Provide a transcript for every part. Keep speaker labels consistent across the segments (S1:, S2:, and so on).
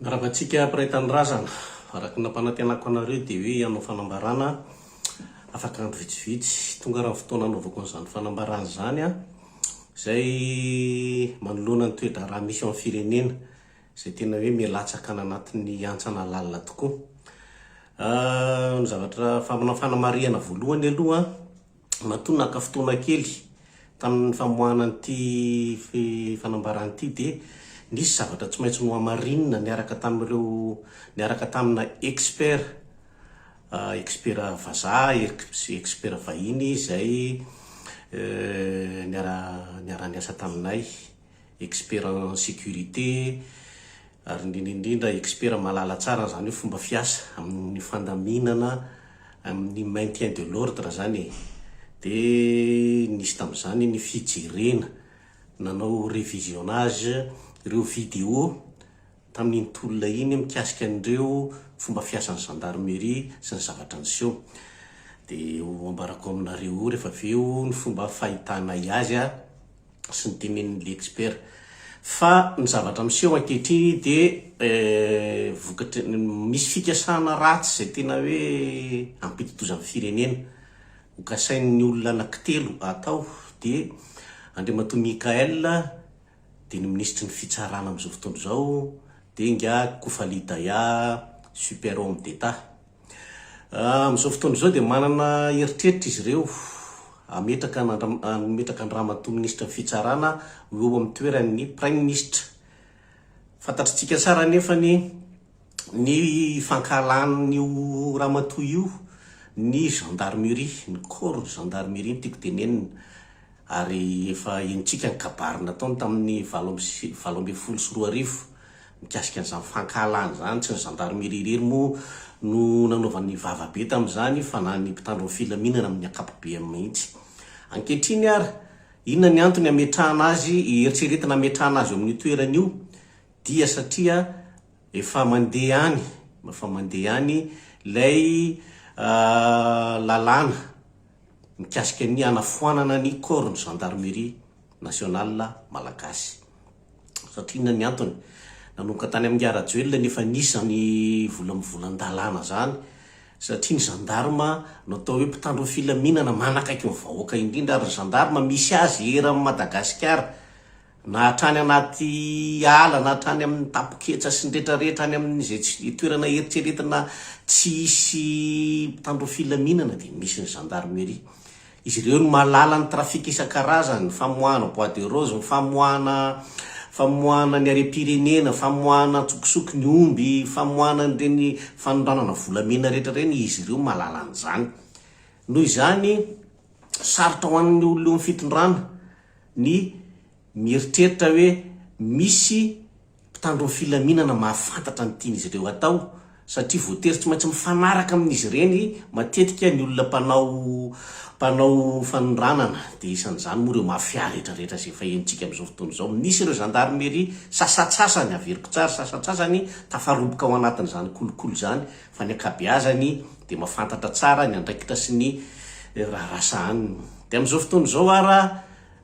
S1: Mirava antsika mpiray tanindrazana. Araka ny nampanantenako anareo dia hoe hanao fanambarana afaka andro vitsivitsy. Tonga ary ny fotoana hanaovako an'izany fanambarana izany izay manoloana ny toe-draharaha misy eo amin'ny firenena izay tena hoe miha-latsaka any anatin'ny hantsana lalina tokoa. Ny zavatra, ny fanamarihana voalohany aloha an, Matoa naka fotoana kely tamin'ny famoahana an'ity fanambarana ity dia nisy zavatra tsy maintsy nohamarinina niaraka tamin'ireo niaraka tamina expert, expert vazaha, expert vahiny izay niara-niasa taminay. expert en sécurité, ary indrindra indrindra expert mahalala tsara an'izany hoe fomba fiasa amin'ny fandaminana amin'ny maintien de l'ordre izany e! Dia nisy tamin'izany ny fijerena, nanao revisionnage ireo vidéo tamin'iny tolona iny mikasika an'ireo fomba fiasan'ny gendarmerie sy ny zavatra niseho. Dia ho ambarako aminareo eo rehefa avy eo ny fomba fahitanay azy a! sy ny tenenin'i l'expert fa ny zavatra miseho ankehitriny dia vokatry ny misy fikasana ratsy izay tena hoe hampidi-doza ny firenena ho kasain'ny olona anankitelo atao dia Andriamatoa Michaël dia ny minisitry ny fitsarana amin'izao fotoana izao dia ingahy Kofali Daya super homme d'Etat Amin'izao fotoana izao dia manana eritreritra izy ireo hametraka an'Andriamatoa Andriamatoa Minisitry ny Fitsarana ho eo amin'ny toeran'ny Praiminisitra. Fantatritsika tsara anefa ny ny fankahalan'io Ramatoa io ny Gendarmerie, ny Corps de Gendarmerie no tiako tenenina. Ary efa henontsika ny kabary nataony tamin'ny valo amby sy valo ambin'ny folo sy roa arivo mikasika an'izany fankahalana izany. Tsy ny zandarimeria irery moa no nanaovany vava be tamin'izany fa na ny mpitandro ny filaminana amin'ny ankapobeany mihitsy. Ankehitriny ary, inona ny antony hametrahana azy, eritreretina hametrahana azy eo amin'io toerana io? Dia satria efa mandeha any, efa mandeha any ilay lalàna. mikasika ny hanafoanana ny corps-n'ny Gendarmerie Nationale Malagasy. Satria inona ny antony? Nanomboka tany amin'i Ingahy Rajoelina ny efa nisy izany vola mivolan-dalàna izany, satria ny gendarme no atao hoe mpitandro ny filaminana, manakaiky ny vahoaka indrindra, ary ny gendarme misy azy eran'i Madagasikara, na hatrany anaty ala na hatrany amin' ny tapoketsa sy ny retraretra any amin' izay tsy dia toerana eritreretina tsy hisy mpitandro filaminana dia misy ny zandarmeria. Izy ireo no mahalala ny trafika isan-karazany, ny famoahana bois de rose, ny famoahana famoahana ny harem-pirenena, famoahana an-tsokosoko ny omby, famoahana an'ireny fanondranana volamena rehetra ireny, izy ireo mahalala an'izany. Noho izany, sarotra ho an'ny olona eo amin'ny fitondrana ny mieritreritra hoe misy mpitandro ny filaminana mahafantatra ny tian'izy ireo hatao, satria voatery tsy maintsy mifanaraka amin'izy ireny matetika ny olona mpanao mpanao fanondranana, dia isan'izany moa ireo mafia rehetrarehetra izay efa henontsika amin'izao fotoana izao. Misy ireo zandarimeria sasantsasany, averiko tsara, sasantsasany tafaroboka ao anatin'izany kolikoly izany, fa ny ankabeazany dia mahafantatra tsara ny andraikitra sy ny raharaha sahaniny. Dia amin'izao fotoana izao ara,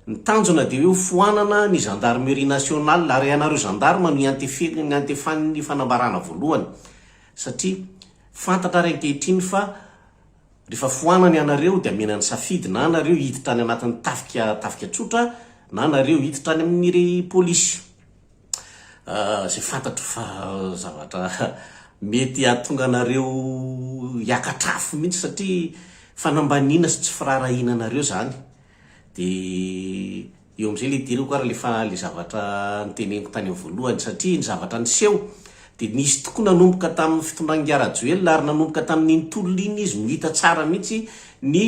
S1: ny tanjona dia hoe ho foanana ny gendarmerie nationale ary ianareo gendarmes no iantefe, iantefan'ny fanambarana voalohany satria fantatra ary ankehitriny fa rehefa foanana ianareo dia amena ny safidy na nareo hiditra any anatin'ny tafika, tafika tsotra na nareo hiditra any amin'ny polisy. izay fantatro fa zavatra mety hahatonga anareo hiakatra afo mihitsy satria fanambaniana sy tsy firaharahiana anareo izany. Dia eo amin'izay ilay idirako ary ilay fa, ilay zavatra noteneniko tany amin'ny voalohany satria ny zavatra niseho dia nisy tokoa nanomboka tamin'ny fitondran'ingahy Rajoelina ary nanomboka tamin'iny tolona iny izy no hita tsara mihitsy ny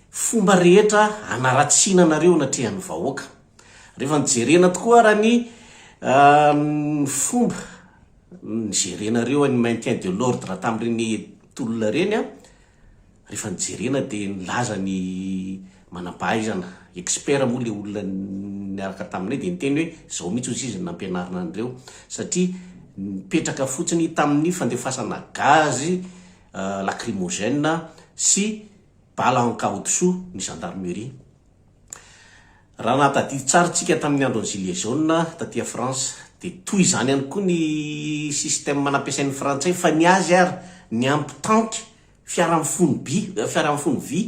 S1: fomba rehetra hanaratsiana anareo anatrehan'ny vahoaka. Rehefa nijerena tokoa ara ny fomba nijerenareo an'ny maintien de l'ordre tamin'ireny tolona ireny an, rehefa nijerena dia nilaza ny manam-pahaizana, expert moa ilay olona niaraka taminay dia niteny hoe izao mihitsy hozy izy no nampianarina an'ireo satria nipetraka fotsiny tamin'ny fandefasana gaz lacrymogène sy bala ankaodisoa ny gendarmerie. Raha nahatadidy tsara tsika tamin'ny andron'ny gilets jaunes taty France dia toy izany ihany koa ny système nampiasain'ny frantsay fa ny azy ary ny ampy tanky fiara mifono by, fiara mifono vy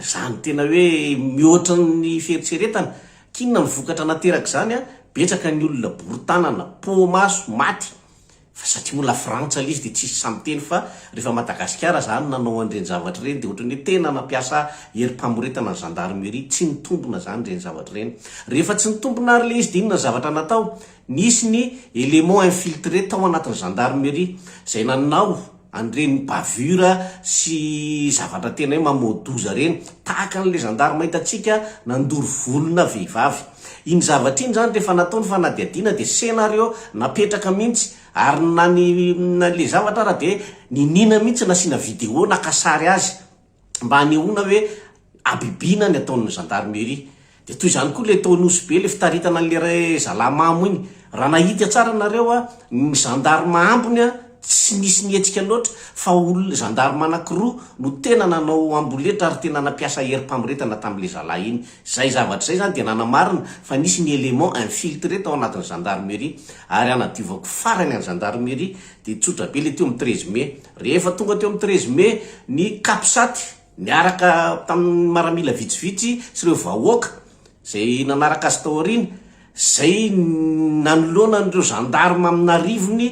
S1: izany tena hoe mihoatra ny fieritreretana. K'inona ny vokatra naterak'izany an? Betsaka ny olona bory tanana, poa maso, maty. Fa satria ho lafrantsa le izy de tsisy sahy miteny fa refa Madagasikara zany nanao an'ireny zavatra ireny de ohatran'ny hoe tena nampiasa herim-pamoretana ny gendarmerie, tsy nitombina zany ireny zavatra ireny. Rehefa tsy nitombina ary le izy de inona ny zavatra natao? Nisy ny éléments infiltrés tao anatin'ny gendarmerie zay nanao. an'ireny bavure sy zavatra tena hoe mamoa-doza ireny, tahaka an'ilay zandarma hitantsika nandoro volona vehivavy. Iny zavatra iny izany rehefa natao ny fanadihadiana dia scenario napetraka mihitsy, ary na ny ilay zavatra ary dia niniana mihitsy nasiana vidéo naka sary azy, mba hanehoana hoe habibiana ny ataon'ny gendarmerie. Dia toy izany koa ilay tao Nosy Be, ilay fitaritana an'ilay ra- zalahy mamo iny. Raha nahita tsara nareo a, ny gendarme ambiny a, tsy nisy nihetsika loatra fa olona, gendarme anankiroa no tena nanao amboletra ary tena nampiasa herim-pamoretana tamin'ilay zalahy iny. Izay zavatra izay izany dia nanamarina fa nisy ny élément infiltré tao anatin'ny gendarmerie. Ary hanadiovako farany an'ny gendarmerie Dia tsotra be ilay teo amin'ny treize mai. Rehefa tonga teo amin'ny treize mai ny Capsat niaraka tamin'ny maramila vitsivitsy sy ireo vahoaka izay nanaraka azy tao aoriana, izay nanoloana an'ireo gendarmes amin'arivony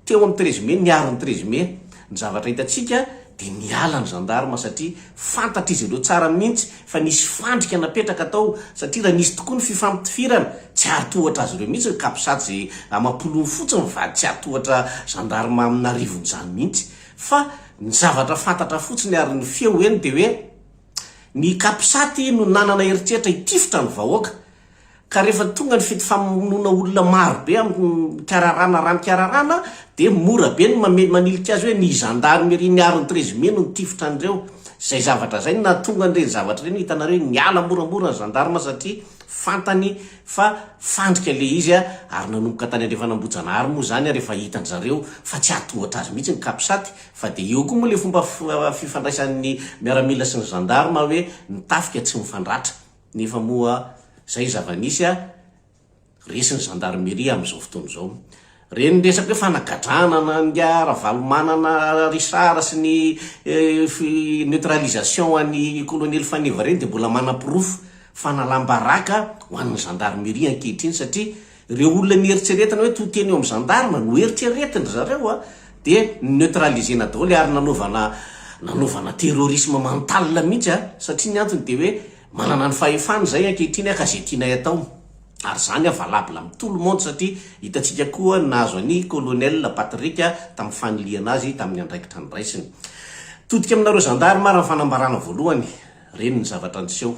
S1: teo amin'ny treize mai, niaro ny treize mai. Ny zavatra hitantsika dia niala ny gendarmes satria Fantatr'izy ireo tsara mihitsy fa nisy fandrika napetraka tao satria raha nisy tokoa ny fifampitifirana, tsy hahatohatra azy ireo mihitsy ny capsat izay amam-polony fotsiny ny vady tsy hahatohatra gendarme amina arivon'izany mihitsy fa ny zavatra fantatra fotsiny ary ny feo eny dia hoe ny capsat no nanana eritreritra hitifitra ny vahoaka Ka rehefa tonga ny fety famonoana olona maro be amin'ny kararana raha ny kararana dia mora be ny mamely manilika azy hoe ny zandarimeria miaro ny trezime no nitifitra an'ireo. Izay zavatra izay no nahatonga an'ireny zavatra ireny hitanareo hoe niala moramora ny zandarma satria fantany fa fandrika ilay izy ary nanomboka tany andrefan'Ambohijanahary moa izany ary efa hitan-dry zareo fa tsy hatohatra azy mihitsy ny Capsat fa dia eo koa moa ilay fomba fifandraisan'ny miaramila sy ny zandarma hoe ny tafika tsy mifandratra Nefa moa zay zava-nisy a, resy ny gendarmerie am zao fotoana zao. Reny resaka hoe fanagadrana na nga Ravalomanana Richard sy ny fi neutralisation an'i Kolonely Faneva reny dia mbola manaporofo fanalam-baraka ho an'ny gendarmerie ankehitriny satria Ireo olona nieritreretana hoe to teny eo amin'ny gendarme no eritreretin-dry zareo dia neutraliser-na daholo ary nanaovana nanaovana terrorisme mental mihitsy a! satria ny antony dia hoe manana ny fahefana izay ankehitriny ka izay tianay atao ary izany valable amin'ny tout le monde satria hitantsika koa ny nahazo an'i colonel Patrick tamin'ny fanilihana azy tamin'ny andraikitra niraisiny. Todika aminareo gendarme ary ny fanambarana voalohany. Reny ny zavatra niseho.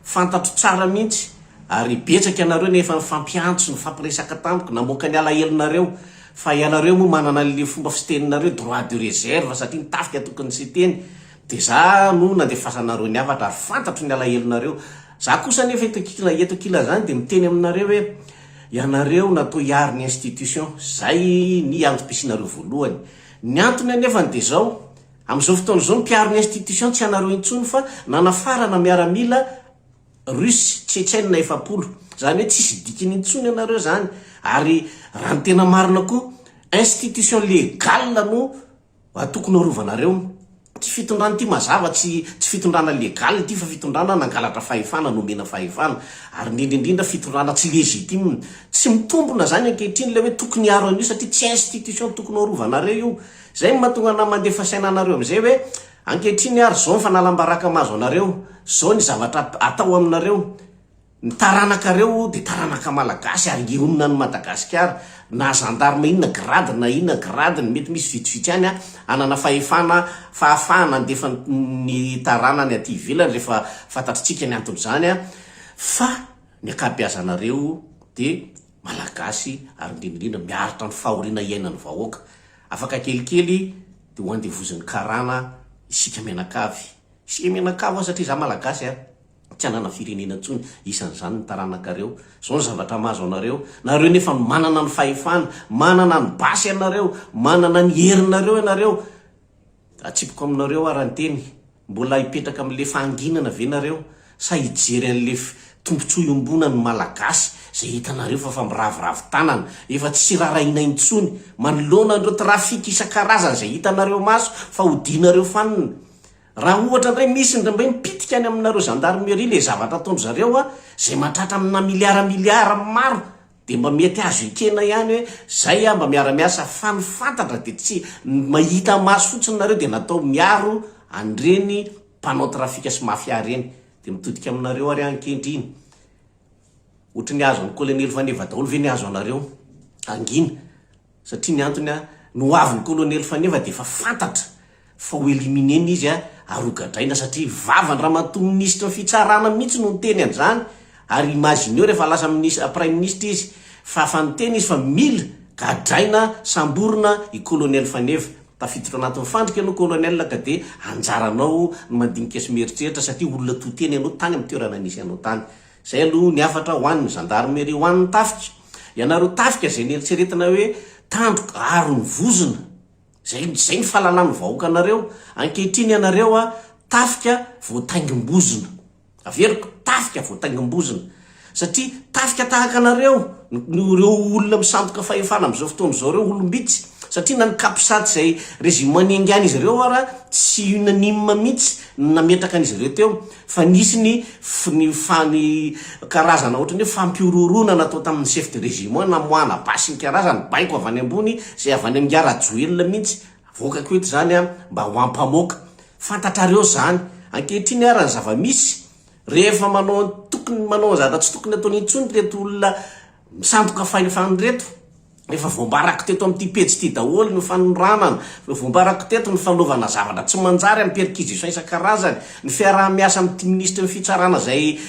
S1: Fantatro tsara mihitsy ary betsaka ianareo no efa nifampiantso, nifampiresaka tamiko, namoaka ny alahelonareo fa ianareo moa manana an'le fomba fiteninareo droit de reserve satria ny tafika tokony tsy hiteny dia za no nandefasanareo ny hafatra ary fantatro ny alahelonareo. Za kosa anefa eto ankila eto ankilazany dia miteny aminareo hoe ianareo natao hiaro ny institution. Zay ny antom-pisianareo voalohany. Ny antony anefany dia zao, Amin'izao fotoana izao, ny mpiaro ny institution tsy anareo intsony fa nanafarana miaramila Russe Tchetchène efapolo. Izany hoe tsisy dikiny intsony ianareo izany ary raha ny tena marina koa institution légale no tokony arovanareo. Ity fitondrana ity mazava tsy tsy fitondrana légale ity fa fitondrana nangalatra fahefana, nomena fahefana ary indrindra indrindra fitondrana tsy légitime. Tsy mitombona izany ankehitriny ilay hoe tokony hiaro an'io satria tsy institution tokony ho arovanareo io. Izay no mahatonga anà mandefa saina anareo amin'izay hoe, ankehitriny ary izao ny fanalam-baraka mahazo anareo, izao ny zavatra atao aminareo, ny taranakareo dia taranaka malagasy ary hionona an'i Madagasikara, na zandarma inona grade na inona gradeny, mety misy vitsivitsy ihany hanana fahefana, fahafahana handefa ny taranany aty ivelany rehefa fantatritsika ny anton'izany fa ny ankabeazanareo dia Malagasy ary indrindra indrindra miaritra ny fahoriana iainan'ny vahoaka. Afaka kelikely dia ho andevozin'ny karana isika mianakavy. Isika mianakavy ho'a satria izaho Malagasy a! tsy hanana firenena intsony, isan'izany ny taranakareo. Izao ny zavatra mahazo anareo. Nareo nefa no manana ny fahefana, manana ny basy ianareo, manana ny herinareo ianareo. Atsipiko aminareo ara-nteny. Mbola hipetraka amin'le fahanginana ve nareo sa hijery an'le tombotsoa iombonan'ny malagasy zay hitanareo fa fa miraviravy tanana efa tsy rarahiana intsony manoloana an'ireo trafic isan-karazany zay hitanareo maso fa odianareo fanina raha ohatra ndray misy ndray mipitika any aminareo gendarmerie le zavatra ataondry zareo a zay mahatratra amina milliard milliard maro Dia mba mety azo ekena ihany hoe zay aho mba miara miasa fa ny fantatra dia tsy ny mahita maso fotsiny nareo dia natao miaro an'ireny mpanao trafika sy mafia ireny dia mitodika aminareo ary ankehitriny ohatry ny azo an'i kolonely faneva daholo ve ny azo anareo hangina Satria ny antony an, ny ho avin'ny kolonely Faneva dia efa fantatra fa ho éliminer-na izy an, ary ho gadraina satria vavan'i Ramatoa Minisitry ny Fitsarana mihitsy no niteny an'izany, ary imagineo rehefa lasa minis, Praiminisitra izy fa efa niteny izy fa mila gadraina, samborina i kolonely Faneva. Tafiditra ao anatin'ny fandrika ianao kolonely ka dia anjaranao ny mandinika sy mieritreritra satria olona to-tena ianao tany amin'ny toerana nisy anao tany. Izay aloha ny hafatra ho an'ny zandarmeria ho an'ny tafika. Ianareo tafika izay nieritreretina hoe tandroka ary ny vozona. Izay izay ny fahalalan'ny vahoaka anareo. Ankehitriny ianareo a tafika voataingim-bozona. Averiko, tafika voataingim-bozona. Satria tafika tahaka anareo no ireo olona misandoka fahefana amin'izao fotoana izao ireo olom-bitsy. Satria na ny capsat izay régiment niaingan'izy ireo ara tsy unanime mihitsy ny nametraka an'izy ireo teo. Fa nisy ny ny fa ny karazana ohatran'ny hoe fampihorohoroana natao tamin'ny chef de régiment namoahana basy ny karazany, baiko avy any ambony izay avy any amin'i Nga Rajoelina mihitsy, avoakako eto izany an, mba ho ampamoaka. Fantatrareo izany. Ankehitriny ara ny zava-misy, rehefa manao ny tokony manao ny zavatra tsy tokony ataony intsony ireto olona misandoka fahefana ireto, Efa voambarako teto amin'ity pejy ity daholo ny fanondranana, efa voambarako teto ny fanaovana zavatra tsy manjary amin'ny perquisition isan-karazany, ny fiaraha-miasa amin'ity minisitry ny fitsarana izay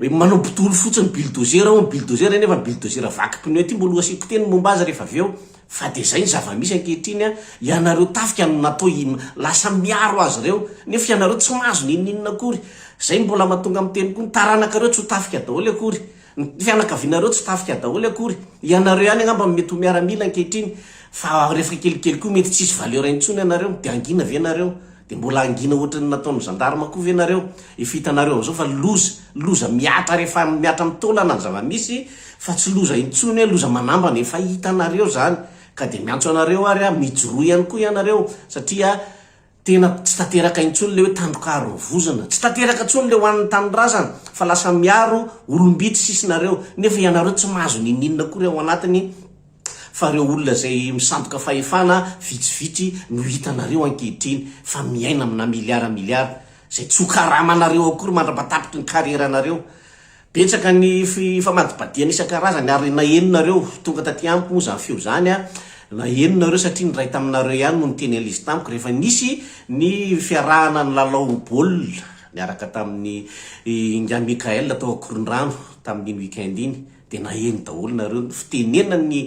S1: manao bodolo fotsiny, bulldozer hono, bulldozer nefa bulldozer vaky pneu ity mbola ho asiako teny ny momba azy rehefa avy eo. Fa dia izay ny zava-misy ankehitriny an, ianareo tafika no natao hi, lasa miaro azy ireo, nefa ianareo tsy mahazo n'inon'inona akory. Izay no mbola mahatonga miteny koa ny taranakareo tsy ho tafika daholo akory. Ny fianakavianareo tsy tafika daholo akory. Ianareo ihany angamba no mety ho miaramila ankehitriny fa rehefa kelikely koa mety tsy hisy valeur intsony ianareo. Dia hangina ve ianareo? Dia mbola hangina ohatran'ny nataon'ny gendarme koa ve ianareo? Efa hitanareo amin'izao fa loza, loza mihatra rehefa mihatra amin'ny taolana ny zava-misy fa tsy loza intsony hoe loza manambana. Efa hitanareo izany ka dia miantso anareo ary aho mijoroa ihany koa ianareo satria Tena tsy tanteraka intsony le hoe tandrokaro ny vozona, tsy tanteraka intsony le hoan'ny tanindrazana fa lasa miaro olom-bitsy sisa nareo nefa ianareo tsy mahazo n'ininona akory ao anatiny fa reo olona zay misandoka fahefana vitsivitsy no hitanareo ankehitriny fa miaina amina milliard milliard zay tsy ho karamanareo akory mandra-patapitry ny carrière nareo Betsaka ny fifamadibadihana isan-karazany ary naheno nareo tonga taty amiko moa zany feo zany a, naheno nareo satria ny ray taminareo ihany no niteny anl'izy tamiko rehefa nisy ny fiarahana nilalao baolina niaraka tamin'ny Ingahy Michael tao Ankorondrano tamin'iny week-end iny dia naheno daholo nareo ny fitenenan'ny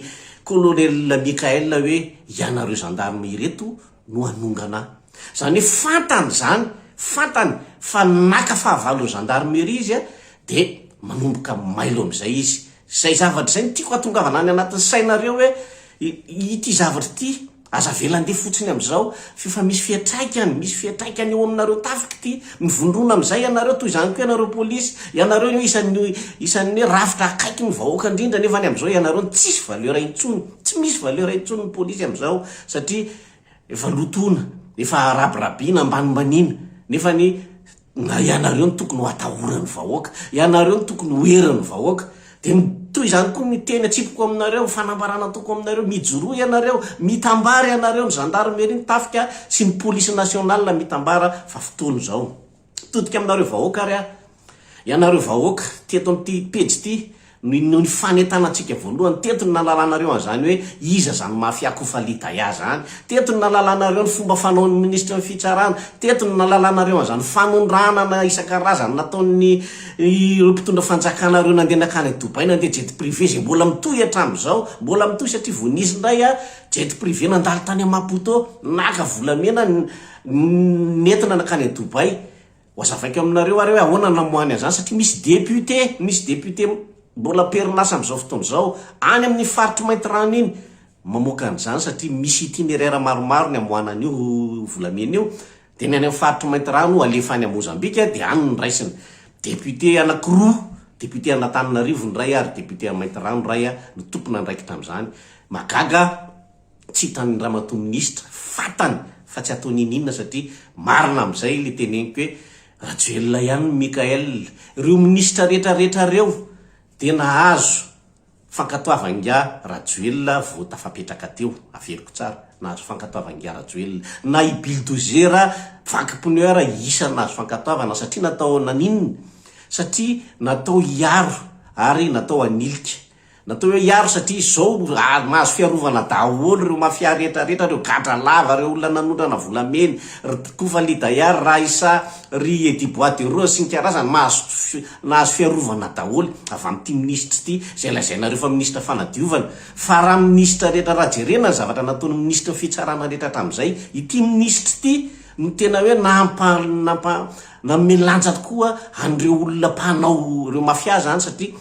S1: Colonel Michael hoe ianareo gendarmes ireto no hanongana ahy. Izany hoe fantany izany, fantany fa naka fahavalon'ny gendarmerie izy dia manomboka mailo amin'izay izy. Izay zavatra izay no tiako hatongavana any anatin'ny sainareo hoe ity zavatra ity aza avela handeha fotsiny amin'izao f'efa misy fiantraikany, misy fiantraikany eo aminareo tafika ity. Mivondrona amin'izay ianareo, toy izany koa ianareo polisy, ianareo no isan'ny isan'ny hoe rafitra akaiky ny vahoaka indrindra nefa ny amin'izao ianareo no tsisy valeur intsony, tsy misy valeur intsony ny polisy amin'izao. satria efa lotoina, efa rabirabiana, ambanimbaniana, nefa ny na ianareo no tokony ho atahoran'ny vahoaka, ianareo no tokony ho herin'ny vahoaka, dia ny toy izany koa ny teny atsipiko aminareo, ny fanambarana ataoko aminareo, mijoroa ianareo, mitambara ianareo, ny zandarmeria, ny tafika sy ny polisy nationale mitambara fa fotoana izao. Todika aminareo vahoaka ary aho. Ianareo vahoaka, teto amin'ity pejy ity no inoan'ny fanentanantsika voalohany. Teto no nahalalanareo an'izany hoe iza izany mafia Kofali Daya izany. Teto no nahalalanareo ny fomba fanaon'ny minisitry ny fitsarana. Teto no nahalalanareo an'izany fanondranana isan-karazany nataon'ny ireo mpitondra fanjakana ireo nandeha nankany Dubai nandeha jet privé izay mbola mitohy hatramin'izao. Mbola mitohy satria vao nisy indray jet privé nandalo tany Maputo naka volamena nentina nankany à Dubaï, hoazavaiko aminareo ary hoe ahoana namoahany an'izany satria misy député, misy député mbola am-perinasa amin'izao fotoana izao any amin'ny faritry Maintirano iny mamoaka an'izany satria misy itinéraire maromaro ny amoahana an'io volamena io dia ny any amin'ny faritry Maintirano alefa any à Mozambique dia any no raisina. Député anakiroa, député an'Antananarivo ny iray ary député à Maintirano iray no tompon'andraikitra amin'izany. Mahagaga aho. Tsy hitan'ny ramatoa minisitra, fantany fa tsy ataony ininona satria marina amin'izay ilay teneniko hoe Rajoelina ihany ny Mickaël. Ireo minisitra rehetra rehetra ireo dia nahazo fankatoavan-giahy Rajoelina vao tafapetraka teo, averiko tsara, nahazo fankatoavan-giahy Rajoelina. Na i Bildozer vaky pneu ara isan'ny nahazo fankatoavana satria natao naninona? Satria natao hiaro ary natao hanilika Natao hoe hiaro satria izao mahazo fiarovana daholo ireo mafia rehetra rehetra, ireo gadra lava, ireo olona nanondrana volamena, ry Kofa Lidaya, ry Raissa, ry Eddy Bois de Rose sy ny karazany mahazo nahazo fiarovana daholo avy amin'ity minisitra ity izay lazainareo fa minisitra fanadiovana fa raha minisitra rehetra raha jerena ny zavatra nataon'ny minisitry ny fitsarana rehetra hatramin'izay ity minisitra ity no tena hoe nampa nampa nanome lanja tokoa an'ireo olona mpanao ireo mafia izany satria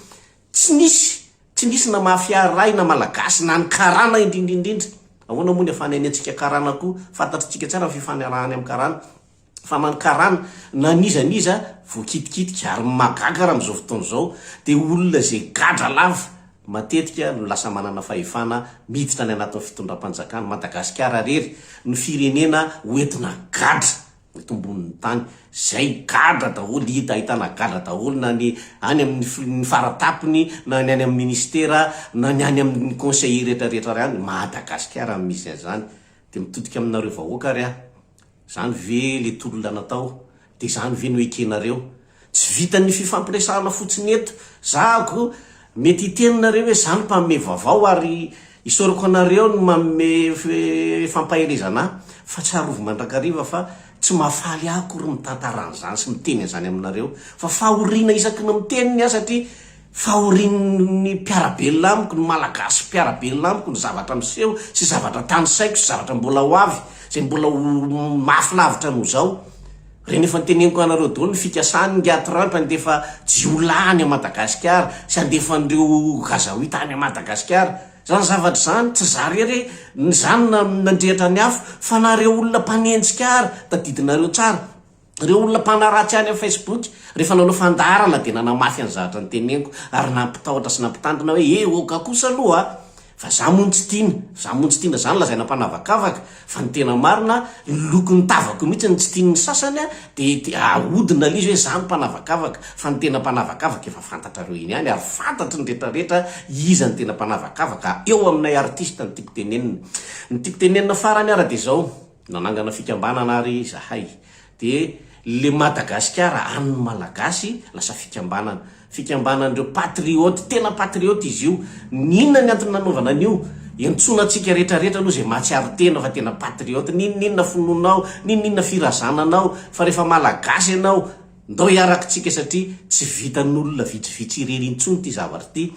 S1: Tsy nisy, tsy nisy na mafia ray na malagasy na ny karana indrindrindrindra. Ahoana moa ny afahana iniantsika karana koa, fantatritsika tsara ny fifanarahany amin'ny karana. Fa na ny karana na n'iza n'iza voakitikitika. Ary ny mahagaga raha amin'izao fotoana izao dia olona izay gadra lava matetika no lasa manana fahefana miditra any anatin'ny fitondram-panjakana. Madagasikara irery no firenena hoentina gadra tombonin'ny tany zay gadra daholo hita ahitana gadra daholo na ny any amin'ny ny faratapony na ny any amin'ny ministera na ny any amin'ny conseiller rehetra rehetra ary any Madagascar no misy an'izany dia mitodika aminareo vahoaka ary aho zany ve le tolona natao dia zany ve no ekenareo Tsy vitan'ny fifampiresahana fotsiny eto. Zahako, mety hiteny nareo hoe za no mpanome vaovao ary isaorako anareo ny manome fampaherezana ahy fa tsarovy mandrakariva fa tsy mahafaly ahy akory mitantara an'izany sy miteny an'izany aminareo fa fahoriana isaky ny miteny ny ahy satria fahorian'ny mpiara-belona amiko, ny Malagasy mpiara-belona amiko ny zavatra miseho sy zavatra tanisaiko sy zavatra mbola ho avy izay mbola ho mafy lavitra noho izao. Reny efa noteneniko anareo daholo ny fikasan ny Atrump handefa jiolahy any Madagascar sy handefa an'ireo Gazaoita any Madagascar zany zavatra zany tsy za rery e ny za no nandrehitra ny afo fa na reo olona mpanenjika ary tadidinareo tsara reo olona mpanaratsy any am Facebook refa nanao fandaharana de nanamafy an'zahatra noteneniko ary nampitahotra sy nampitandrina hoe eh oka kosa aloha a! Fa za moa no tsy tiana, za moa tsy tiana, zany lazaina mpanavakavaka, fa ny tena marina ny lokon'ny tavako mihitsy no tsy tian'ny sasany a, de de ahodina l'izy hoe za no mpanavakavaka, fa ny tena mpanavakavaka efa fantatrareo eny ihany ary fantatry ny rehetra rehetra iza no tena mpanavakavaka, eo aminay artiste ny tiako tenenina, ny tiako tenenina farany ary de zao. Nanangana fikambanana ary izahay. Dia le Madagasikara an'ny Malagasy lasa fikambanana. Fikambanan'ireo patriote, tena patriote izy io. N'inona ny antony nanaovana an'io? Iantsoana antsika rehetra rehetra aloha izay mahatsiaro tena fa tena patriote. N'inon'inona finoanao, n'inon'inona firazananao, fa rehefa Malagasy ianao, ndao hiarakitsika satria tsy vitan'olona vitsivitsy irery intsony ity zavatra ity.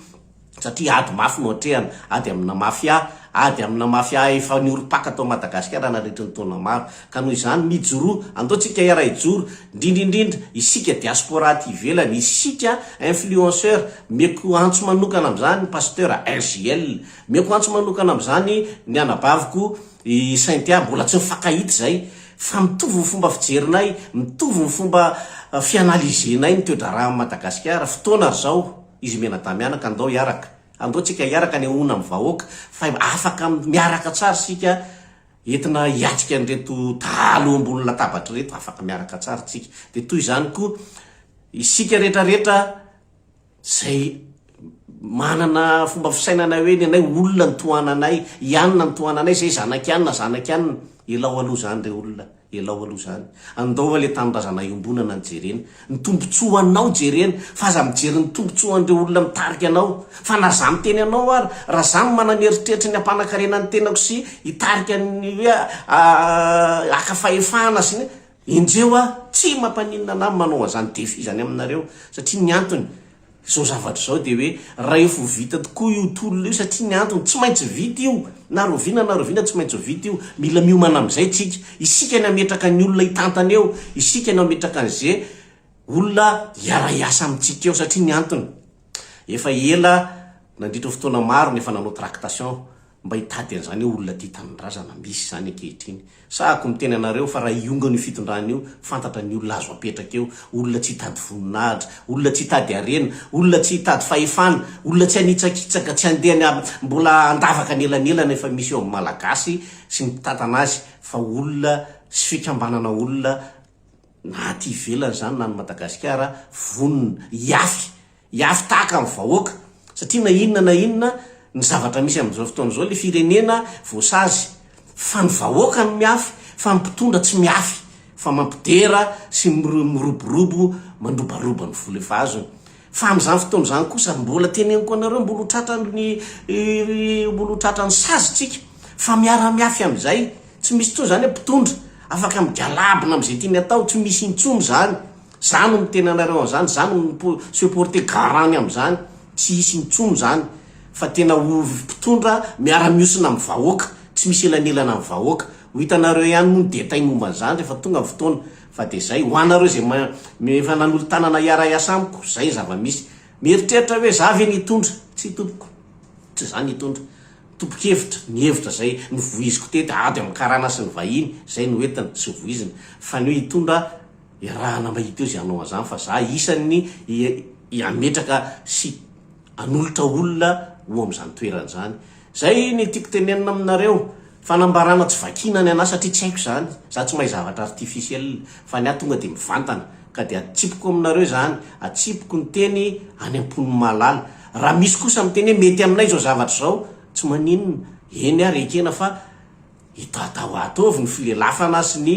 S1: satria ady mafy no atrehana, ady amina mafia, ady amina mafia efa niorim-paka tao Madagasikara nandritry ny taona maro. Ka noho izany, mijoroa, andao tsika iaraha hijoro, indrindra indrindra isika diaspora aty ivelany, isika influenceur, meko antso manokana amin'izany Pasteur RJL, meko antso manokana amin'izany ny anabaviko i Cynthia, mbola tsy nifankahita izay, fa mitovy ny fomba fijerinay, mitovy ny fomba fianaliser-nay ny toe-draharahan'i Madagasikara, fotoana ry zao. Izy mianadamianaka andao hiaraka. Andao tsika hiaraka anehoana am vahoaka fa afaka miaraka tsara isika entina hiatrika an'ireto dahalo eo ambony latabatra ireto afaka miaraka tsara tsika dia toy izany koa isika rehetra rehetra zay manana fomba fisainana hoe ny anay olona ny tohananay ianona ny tohananay zay zanaky anona zanaky anona elao aloha zany re olona Elao aloha izany. Andao aloha ilay tanindrazana iombonana no jerena. Ny tombontsoanao jerena. Fa aza mijery ny tombontsoan'ireo olona mitarika anao. Fa na izaho miteny anao ary, raha izaho no manana eritreritry ny hampanakarena ny tenako sy hitarika ny hoe haka fahefana sy ny, enjeo aho. Tsy mampaninona an'ahy ny manao an'izany défi izany aminareo. Satria ny antony, Izao zavatra izao dia hoe rahefa ho vita tokoa io tolona io satria ny antony tsy maintsy vita io na rahoviana na rahoviana tsy maintsy ho vita io, mila miomana amin'izay isika, isika ny hametraka ny olona hitantana eo, isika no hametraka an'ze olona hiara hiasa amintsika eo satria ny antony efa ela nandritra fotoana maro no efa nanao tractation. Mba hitady an'izany eo olona tia tanindrazana, misy izany ankehitriny. Sahako miteny anareo fa raha hiongana io fitondrana io, fantatra ny olona azo apetraka eo, olona tsy hitady voninahitra, olona tsy hitady harena, olona tsy hitady fahefana, olona tsy hanitsakitsaka, tsy handeha any mbola handavaka anelanelana efa misy eo amin'ny Malagasy sy ny mpitantana azy fa olona sy fikambanana olona na aty ivelany izany na any Madagasikara vonona hiafy Hiafy tahaka ny vahoaka, satria na inona na inona ny zavatra misy amin'izao fotoana izao, ilay firenena voasazy, fa ny vahoaka no miafy, fa ny mpitondra tsy miafy, fa mampidera sy miroborobo mandrobaroba ny vola efa azony. Fa amin'izany fotoana izany kosa, mbola teneniko anareo, mbola ho tratran'ny mbola ho tratran'ny sazintsika, fa miara-miafy amin'izay, tsy misy intsony izany hoe mpitondra afaka migalabona amin'izay tiany atao, tsy misy intsony izany, Za no miteny anareo an'izany, za no mipo se porter garant-ny amin'izany, tsy hisy intsony izany fa tena ho mpitondra miara-mihosina amin'ny vahoaka, tsy misy elanelana amin'ny vahoaka. Ho hitanareo ihany moa ny détails momba an'izany rehefa tonga ny fotoana, fa dia izay. Ho anareo izay ma mi efa nanolo-tanana hiara-hiasa amiko, izay ny zava-misy. Mieritreritra hoe za ve no hitondra? Tsia tompoko, tsy za no hitondra. Topon-kevitra, nihevitra izay novoiziko teto, ady amin'ny karana sy ny vahiny, izay no entiny sy voiziny, fa ny hoe hitondra, Iarahana mba hita eo izay hanao an'izany fa za isan'ny hametraka sy hanolotra olona ho amin'izany toerana izany. Izay ny tiako tenenina aminareo. Fanambarana tsy vakiana ny anà satria tsy haiko izany. Za tsy mahay zavatra artificiel fa ny ahy tonga dia mivantana ka dia atsipiko aminareo izany, atsipiko ny teny any am-pon'ny mahalala. Raha misy kosa miteny hoe mety aminay izao zavatra izao, tsy maninona, eny ary ekena fa Itatao ato avy ny filelafana sy ny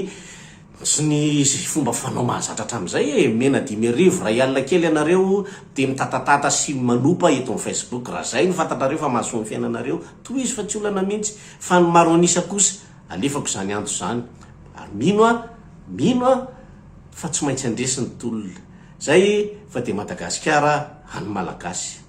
S1: sy ny sy fomba fanao mahazatra hatramin'izay e! Omena dimy arivo, iray alina kely ianareo dia mitatatata sy manopa eto amin'ny Facebook. Raha izay no fantatrareo fa mahasoa ny fiainanareo, tohizo fa tsy olana mihitsy. Fa ny maro an'isa kosa, alefako izany antso izany. Ary mino aho, mino aho fa tsy maintsy handresy ny tolona. Izay fa dia Madagasikara an'ny Malagasy.